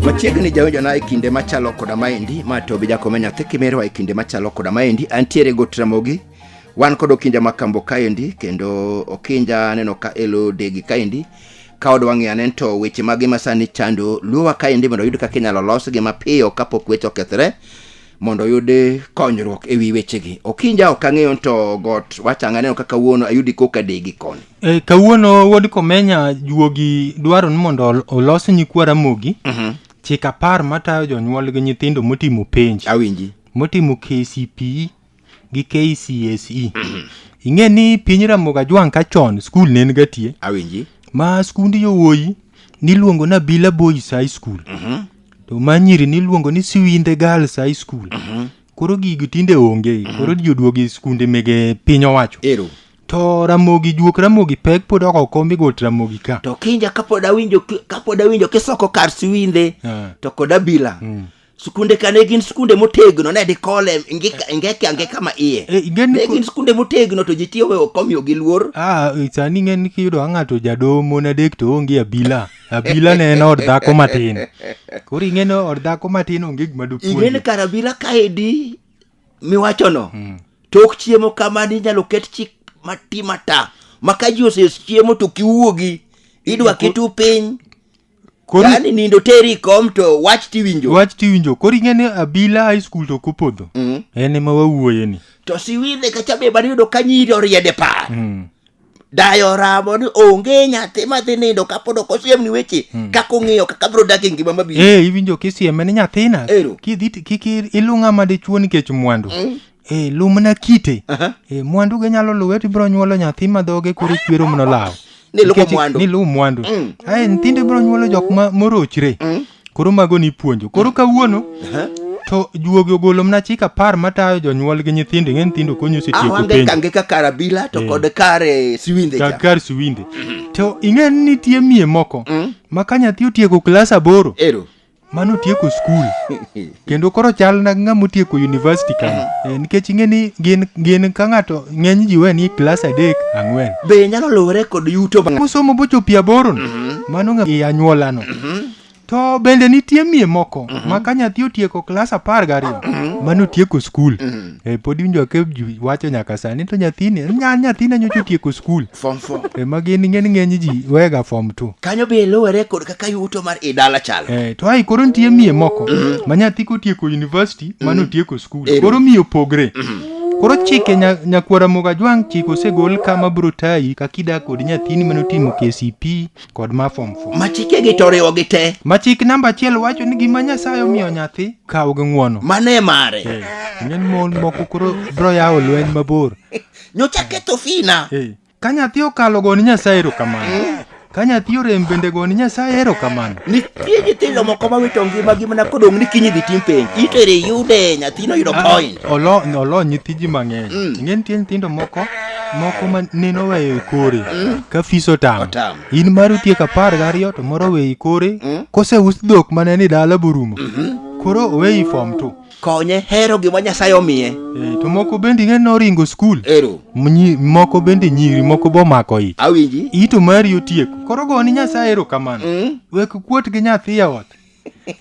Machiegni jawinjona e kinde machalo koda maendi ma Tobi Jakome nyathi Kimerwa e kinde machalo koda maendi antiere go Ramogi wan kod Okinja Makambo kaendi kendo Okinja aneno ka elo degi kaendi ka odwa ng'eyo ane to weche mage masani chando luowa kaendi mondo oyud kaka inyalo losgi mapiyo kapok weche okethre mondo oyud konyruok e wi wechegi okinja ok ang'eyo to got wacha anganeno kaka wuono ayudi koka degi koni E, kawuono wuod komenya juogi dwaro ni mondo ol- olos nyikwa ramogi chik apar matayo jonyuol gi nyithindo motimo penj awinji motimo kcpe gi kcse ing'e ni piny ramogi ajwang' ka chon skul ne en gatie awinji ma skund yowuoyi niluongo na bila boys high school to ma nyiri niluongo ni siwinde girls high school mhm. koro gigi tinde onge mhm. koro ji oduogi skunde mege piny owacho ero to ramogi juok ramogi pek pod oko kombi got ramogi ka to kinja kapod awinjo kapod awinjo kisoko kar siwinde ah. to kod abila mm. skunde ka ne gin skunde motegno ne dikole ingeke ange kama iye eh, ne gin skunde motegno to ji tiyo we okomiyo gi luor ah, sani ng'e ni kiyudo ang'ato jadomo nadek to onge abila abila ne en od dhako matin koro ing'e ni od dhako matin onge gima ing'e ni dopuonje kar abila kaedi miwachono Hmm. tok chiemo kamani inyalo ket chik mati mata ma ka ji oses chiemo to kiwuogi idwa kitu piny koro yani nindo teri kom to wach tiwinjo wach tiwinjo koro ing'e ni abila high school to kopodho Mm. en ema wawuoye ni to siwidhe kacha be bani yudo ka nyiri oriede par Mm. dayo oramo ni onge nyathi madhi nindo kapod ok osiemni weche kaka ong'iyo kaka biro dak e ngima mabiro Eh, iwinjo kisieme ni nyathina Ero. kidhi ti- kik i- iluw ng'ama dichuo nikech mwandu Eh, luw mana kite Aha. Eh, mwandu ge nyalo luwe to ibiro nyuolo nyathi ma dhoge koro chwero mno law Ni luwo Nikech- mwandu. ni luw mwandu Mm. ae nyithindo ibiro nyuolo jok ma morochre koro mago ni puonjo koro kawuono to juogi ogolo mna chik apar matayo jonyuol gi nyithindo ing'e nyithindo konyo setieko awange penjo kange ka karabila to kod kare siwinde cha kakar siwinde to ing'e ni nitie mie moko ma ka nyathi otieko klas aboro ero mano otieko skul kendo koro chal na ng'ama otieko university kama Eh, nikech ing'e ni gin gin ka ng'ato ng'eny ji we ni klas adek ang'wen be nyalo luwore kod yuto ma mosomo bochopi aboro no mano ng'a- i anyuola no to bende nitie mie moko ma ka nyathi otieko klas apar gariyo mano otieko skul Eh, pod iwinjo ka ji wacho nyaka sani to nyathini nya- nyathina nyocha otieko skul form four ema gin ng'eny ng'eny ji wega fom two kanyo be luwore kod kaka yuto mar i dala chalo Eh, to ai koro nitie miye moko ma nyathi kotieko university mano otieko skul Ero. koro miyo opogre koro chike nya- nyakwara mogajwang' chike osegol kama bro tayi kaka idak kod nyathini mane otimo kcp kod ma form 4 ma chikegi to oriwo gi te ma chik namba achiel wacho ni gima nyasaye omiyo nyathi kaw gi ng'wono mano e mare Eh, ng'eny mon moko koro bro yawo lweny mabor nyocha ketho fina Eh, ka nyathi okalo goni nyasaye erokamano ka nyathi orem bende goni nyasaye erokamano nitie nyithindo moko mawito ngimagi mana kodong' ni kiny idhi tim penj itere yude nyathino yudo point Olo- olo nyithiji mang'eny Mm. ing'e nitie nyithindo moko moko ma nene oweyo e kore mm. ka fis otamo in mar otieko apar gariyo to moro oweyo e kore mm. koseus dhok mane ni dala borumo mm-hmm. koro oweyi fom to konye hero gima nyasaye omiye eh, to moko bende ing'e noringo skul ero moko bende nyiri moko bomako ich awinji ito mari otieko koro goni nyasaye ero kamano mm. wek kuot gi nyathi e ot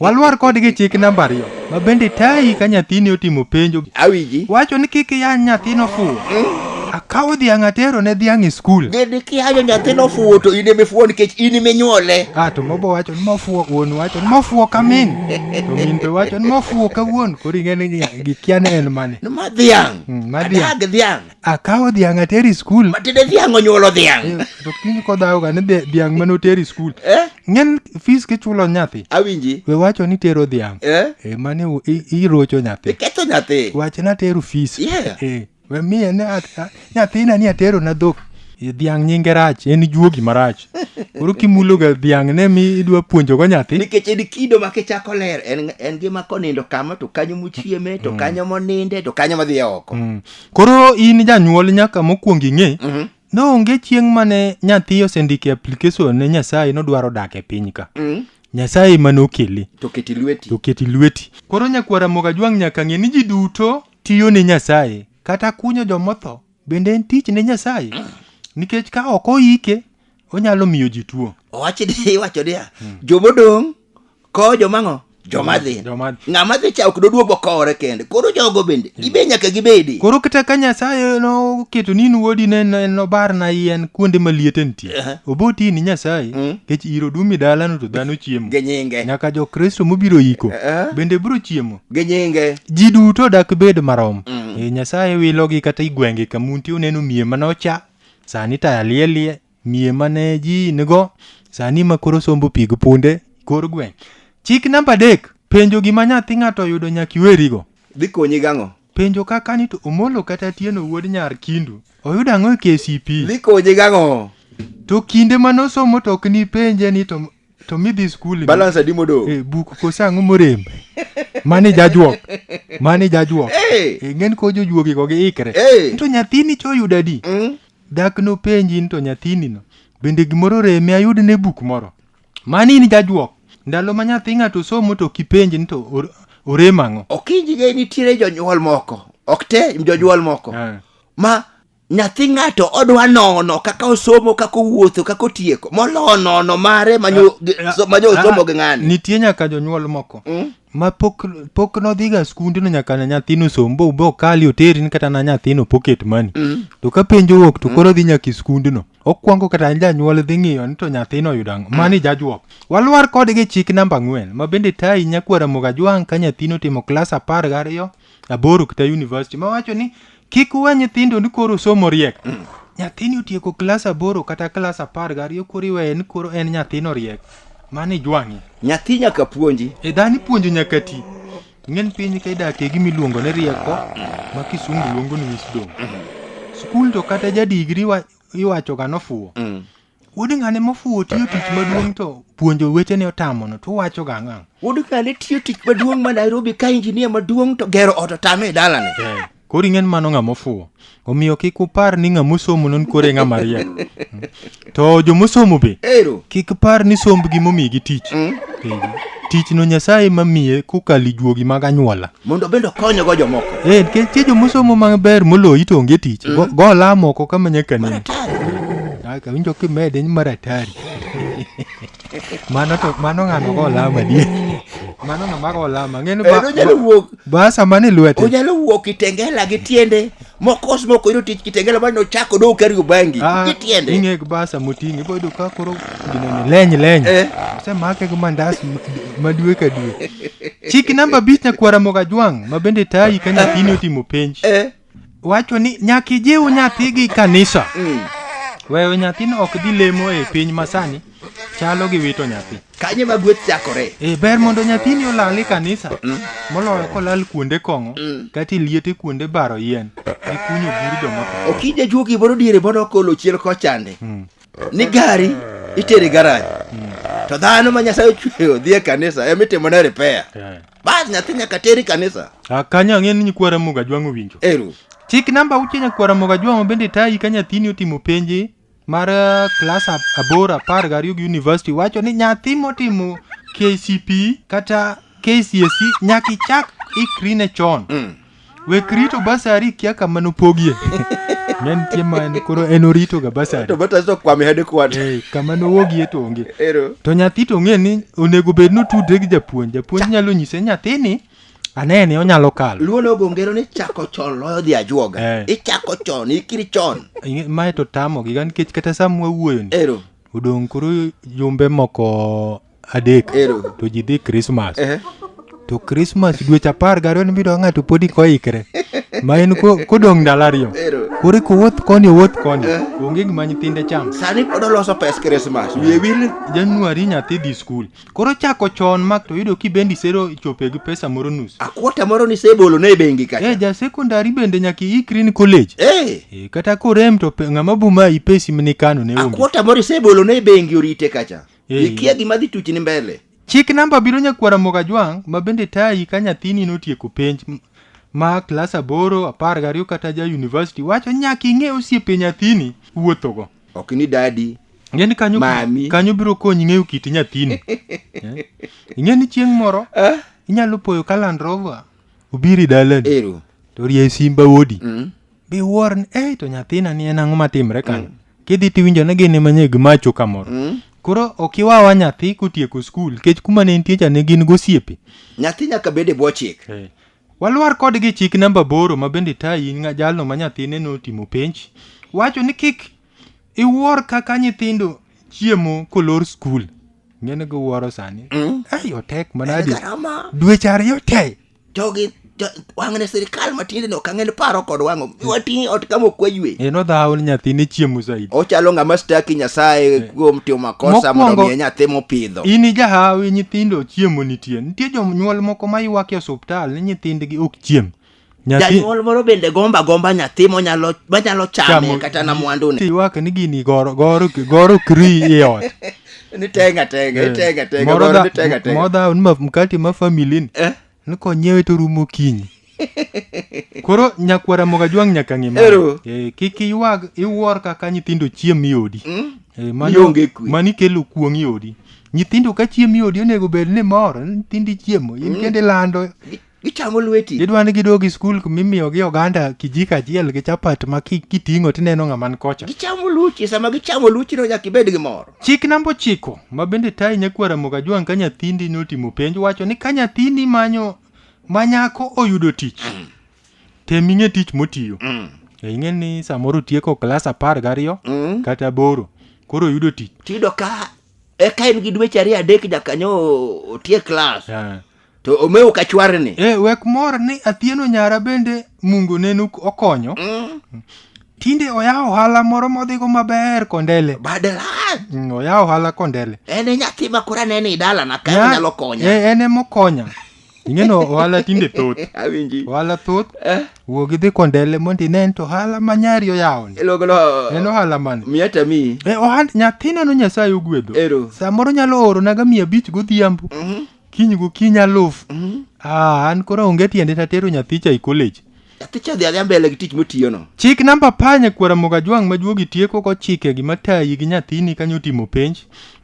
Walwar kodgi chik namba ariyo ma bende tayi ka nyathini otimo penjo. Awiji. Wacho ni kik iyany nyathino fuwo. Akawo dhiang' atero ne dhiang' e skul. Bende kiyanyo nyathino fuwo to in emifuwo nikech in iminyuole. Ah, to mobo wacho ni mofuwo wuon wacho ni mofuwo ka min. To min be wacho ni mofuwo ka wuon. Koro ing'e ni gikia ni en mane. Ma dhiang'. Mm, ma dhiang'. Adag dhiang'. akawo dhiang' ateri skul matinde dhiang' onyuolo dhiang' Eh, to kiny kodhawoga ni dhi- dhiang' mane oteri skul Eh? ng'en fis kichulo nyathi awinji we wacho ni tero dhiang' Eh? Eh, mane u- i- irocho nyathi iketho nyathi wach ni atero fis Yeah. Eh, we miye ni a- a- nyathina ni atero na dhok Eh, dhiang' nyinge rach en juogi marach koro kimuloga dhiang' ne mi idwa puonjogo nyathi nikech en kido ma kichako ler en, en gima konindo kama to kanyo mochieme to kanyo moninde to kanyo madhiye oko Mm. Koro in janyuol nyaka mokwongo ing'e Mhm. ni onge chieng' mane nyathi osendiko e application ne Nyasaye nodwaro dak e piny ka. Mm. Nyasaye ema nokele To keti lweti. to keti lweti. Koro nyakwara Mogajwang' nyaka ng'e ni ji duto tiyo ne Nyasaye kata kunyo jomotho bende en tich ne Nyasaye nikech ka ok oyike onyalo miyo ji tuo owachi ni iwacho niya jomodong' kowo jomang'o joma dhi Joma- ng'ama dhi cha ok doduogo kowore kende koro jogo bende ibe nyaka gibedi koro kata ka nyasaye noketo ni in wuodi ne ne- nobarna yien kuonde ma liete nitie Aha. oboti ni nyasaye Mm. kech iro dumi dalano to dhano chiemo gi nyinge nyaka jokristo mobiro iko Eh. bende biro chiemo gi nyinge ji duto dak bed marom Mm. Eh, nyasaye wilogi kata igwenge kamunti uneno miye manocha Sani taya liel lie, miye mane ji nigo, sani ma koro sombo pi gi punde, kor gweng'. Chik namba adek, penjo gima nyathi ng'ato oyudo nyaka iwerigo. Dhi konyi gang'o? Penjo kaka ni to Omolo kata Atieno wuod nyar Kindu oyudo ang'o e KCPE? Dhi konyi gang'o? To kinde mane osomo to ok nipenje ni to to midhi skul balance adi modong e buk kose ang'o morem mani jajuok mani jajuok Hey! e ng'en ko jojuogi go giikre Hey! to nyathini choyudo adi Mm. dak nopenji ni to nyathini no bende gimoro reme ayud ne buk moro mani in jajuok ndalo ma nyathi ng'ato somo to kipenji ni to or- orem ang'o okinjige nitiere jonyuol moko ok te jonyuol moko Ah. ma nyathi ng'ato odwa nono kaka osomo kaka owuotho kaka otieko moloyo nono mare manyo ah, manyo ah, osomo gi ng'ani nitie nyaka jonyuol moko mm? ma pok pok nodhiga skunde no nyaka na nyathino som bo bo kali oterin kata na nyathino pocket money mm. to ka penjo wuok to mm. koro dhi nyaka skunde no okwongo kata janyuol dhi ng'iyo ni to nyathino oyudo ang'o mm. mani jajwok walwar kodgi chik namba ang'wen ma bende tayi nyakwara mugajwang' ka nyathino timo klas apar gariyo aboro kata university ma wacho ni kik uwe nyithindo ni koro somo riek nyathini otieko klas aboro kata klas apar gariyo koro iweye ni koro en nyathino riek mano ijwang'e nyathi nyaka puonji e dhani puonjo nyaka ti ng'en piny ka idakie gima iluongo ni rieko ma kisungu luongo ni wisdom skul to kata jadigri wa- iwachoga nofuwo Mm. Wuod ng'ane mofuwo tiyo tich maduong' to puonjo wetene otamono to uwacho ga ang'o? Wuod ng'ane tiyo tich maduong' ma Nairobi ka injinia maduong' to gero ot otame e dalane. Eh, koro ing'en mano ng'a mofuwo. Omiyo kik upar ni ng'a mosomo non kore ng'a mariek. Mm. To jo mosomo be Ero. kik par ni sombgi momigi tich. Mm. Eh, Tichno Nyasaye mamiye kokalo ijuogi mag anyuola. mondo bende okonygo jomoko. Eh, nikech tie jomosomo maber moloyi to onge tich. Go, go lamo oko kama nyaka nini. Aka winjo kimede ni maratari. mano to mano ng'ano go lama die. Mano ng'ama go lama. Ng'eni Eh, onyalo wuok, basa mane lwete. onyalo wuok kitengela gi tiende mokos moko yudo tich kitengela mane ochako dou kariyo bangi Ah, kitiende ing'e gi basa moting'e ibo yudo ka koro ginene leny leny Eh. osemake gi mandas ma- ma dwe ka dwe chik namba abich nyakwara mogajwang' ma bende tayi ka nyathini otimo penj Eh, wacho ni nyaka ijiw nyathi gi kanisa mm. weyo nyathino ok dhi lemo e piny masani chalo gi wito nyathi. Kanye ma gweth chakore? Eh, ber mondo nyathini olal e kanisa mm. moloyo kolal kuonde kong'o mm. kata liete kuonde baro yien e kunyo bur joma. Okija juo gimoro diere mondo okolo chiel kochande. Mm. Ni gari itere garaj. To dhano ma Nyasaye ochweyo dhi e kanisa ema itimone repair. Eh. Bas nyathi nyaka teri kanisa. Ah, kanyo ang'e ni nyikwara muga jwang'o winjo. Eru. Chik namba uche nyakwara muga jwang'o bende tayi ka nyathini otimo penje mar eh, klas ab- aboro apar gariyo gi university wacho ni nyathi motimo kcp kata kcse nyaka ichak ikri ne chon wek rito basari kia kama nopogie ne nitie ma en- koro en oritoga basari to bata to kwame hade kwat Eh, kama nowogie to onge ero to nyathi to ng'e ni onego bed notudre gi japuonj japuonj nyalo nyise nyathini anene onyalo kalo luo nogo ngero ni chako chon loyo dhi ajuoga Eh. ichako chon ikiri chon Ing'e- mae to tamogi ga nikech kata sa mwawuoyoni ero odong' koro jumbe moko adek Ero. to ji dhi krismas Ehe. to krismas dweche apar gariyo ni bidwa ng'ato podi koikre ma en ko- kodong' ndalo ariyo Ero. koro kowuoth koni owuoth koni onge gima nyithinde cham sani pod oloso pes krismas wiye wil januari nyathi dhi skul Koro chako chon mak to yudo kibendi sero ichope gi pesa moro nus. Akwota moro ni sebolo ne bengi kacha. Eh ja secondary bende nyaka iikri ni college. Eh. Eh, kata korem to pe- ng'ama buma ipesi mini kano ne onge. Akwota moro sebolo ne bengi orite kacha. Eh. Ikia gima dhi tuchni mbele. Chik namba biro nyakwara moga jwang' ma bende tayi ka nyathini notieko penj m- ma klas aboro, apar gariyo kata ja university wacho nyaka ing'e osiepe nyathini wuothogo. ok ni dadi Ng'eni kanyo, Mami. kanyo biro konyi ng'eyo kit nyathini. Eh? Ing'eni chieng' moro ah, inyalo poyo ka Land Rover obiri dalani ero to rie simba wodi mm. be wuor ni ei to nyathina ni en ang'o matimre kanyo kidhi tiwinjo ni gin ema nyeg macho kamoro Mm. koro ok iwawa nyathi kotieko skul kech kuma ne nitie cha ne gin gosiepe nyathi nyaka bed e bwo chik Walwar kod gi chik namba aboro ma bende tayi nga jalno ma nyathine notimo penj. Wacho ni kik iwuor kaka nyithindo chiemo kolor skul. Ng'ene go wuoro sani. Mm. Ai otek manadi. Garama. Dweche ariyo te. Jogi jo- wang'ne sirikal matinde no kang'en paro kod wang'o. Wating'i ot kama ok waywe. En odhawo ni nyathine chiemo saidi. Ochalo ng'ama staki Nyasaye kuom timo makosa mondo Mokwongo- omiye nyathi mopidho. In ijahawi nyithindo chiemo nitie. nitie jonyuol moko ma ywak e osuptal ni nyithindgi ok chiem Nyathi- janyuol moro bende gomba gomba nyathi monyalo manyalo chame chamo- kata na mwandune tiywak ni gini goro goro goro kri e ot ni tenga tenga ni tenga tenga Moro goro dha- ni tenga tenga moro dhawo ni ma- mkate ma famili ni Eh? ni konyiewe to rumo kinyi koro nyakwar ramogi ajwang' nyaka ng'e mano. Ero. Eh, kik iywag iwuor kaka nyithindo chiem i odi Eh, mano- Ionge kwe. mano ikelo kuong' i odi nyithindo ka chiem i odi onego bed ni mor nyithindo ichiemo in kendo ilando Gi- Gichamo lweti. idwa ni gidog i skul mimiyogi oganda kijiko achiel gi chapat ma ki- kiting'o tineno ng'aman kocha Gichamo luchi. Sama gichamo luchi no nyaka ibed gi mor. chik namba ochiko ma bende tayi nyakwar ramogi ajwang' ka nyathindi notimo penj wacho ni ka nyathini manyo ma nyako oyudo tich tem ing'e tich motiyo E, ing'e ni samoro tieko klas apar gariyo kata boro koro oyudo tich tiyudo ka eka en gi dweche ariyo adek nyakanyo otie klas Ah. to omewo ka chwarni e wek mor ni athieno nyara bende mungu nenu okonyo tinde oyawo ohala moro modhigo maber kondele badala Mm, oyawo ohala kondele en e nyathi ma koro anene i dalana ka Nya- nyalo konya Eh, en emokonya ing'eno ohala tinde thoth awinji ohala thoth eh wuog idhi kondele mondo inen to ohala ma nyari oyawoni iluongono en ohala mane miya tami e ohand nyathina no nyasaye ogwedho Ero. samoro nyalo oronaga mia abich godhiambo kiny gokinyi aluf ah, an koro onge tiende tatero nyathicha e college athicha dhi adhi mbele gi tich motiyono chik namba panye kwara moga jwang' ma juogi tieko go chike gima tayi gi nyathini kanyo timo penj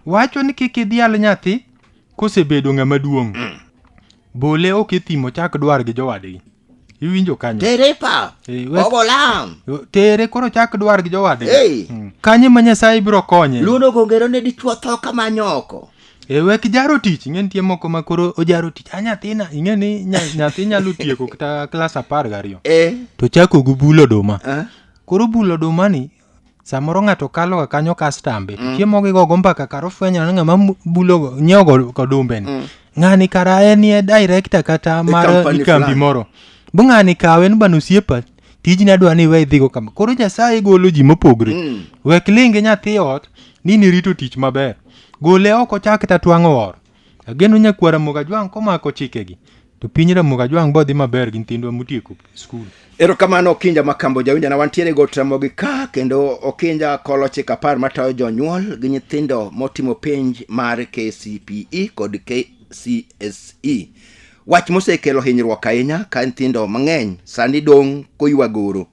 wacho ni kik idhial nyathi Kosebedo ng'ama duong', mm. bole ok e thim ochak dwar gi jowadgi. Iwinjo kanyo. Tere pa. Eh, Ogolam. Tere koro chak dwar gi jowadgi. Hey. Mm. Kanye ma Nyasaye biro konye. Luno gongero ne dichwo tho kama nyoko. E wek jaro tich, ing'e nitie moko ma koro ojaro tich. A nyathina, ing'e ni nyathi nyalo tieko kata klas apar gariyo. Eh. To chako gi bulo oduma. Eh. Koro bulo oduma ni samoro ng'ato kalo ga kanyo kastambe mm. chiemo gi gogo mbaka karo fwenyo ni ng'ama bulo go nyiewo go kodumbe ni mm. ng'ani kara en ye director kata mar kambi moro bu ng'ani kawe ni bano siepa tijni adwa ni we idhigo kama koro nyasaye golo ji mopogre mm. wek linge nyathi ot ni nirito tich maber gole oko chak tatwang'o oro Ageno nyakwar Ramogi Ajwang' komako chikegi to piny Ramogi Ajwang' bodhi maber gi nyithindwa motieko skul. Erokamano Okinja Makambo jawinjana wantiere go Ramogi ka kendo Okinja kolo chik apar matayo jonyuol gi nyithindo motimo penj mar KCPE kod KCSE. Wach mosekelo hinyruok ahinya ka nyithindo mang'eny sani dong' koywagoro.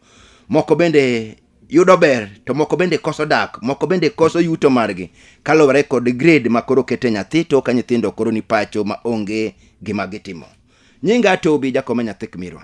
Moko bende yudo ber to moko bende koso dak moko bende koso yuto margi kaluwore kod grade ma koro kete nyathi to ka nyithindo koro ni pacho ma onge gima gitimo nyinga atobi jakome nyathi kmirwa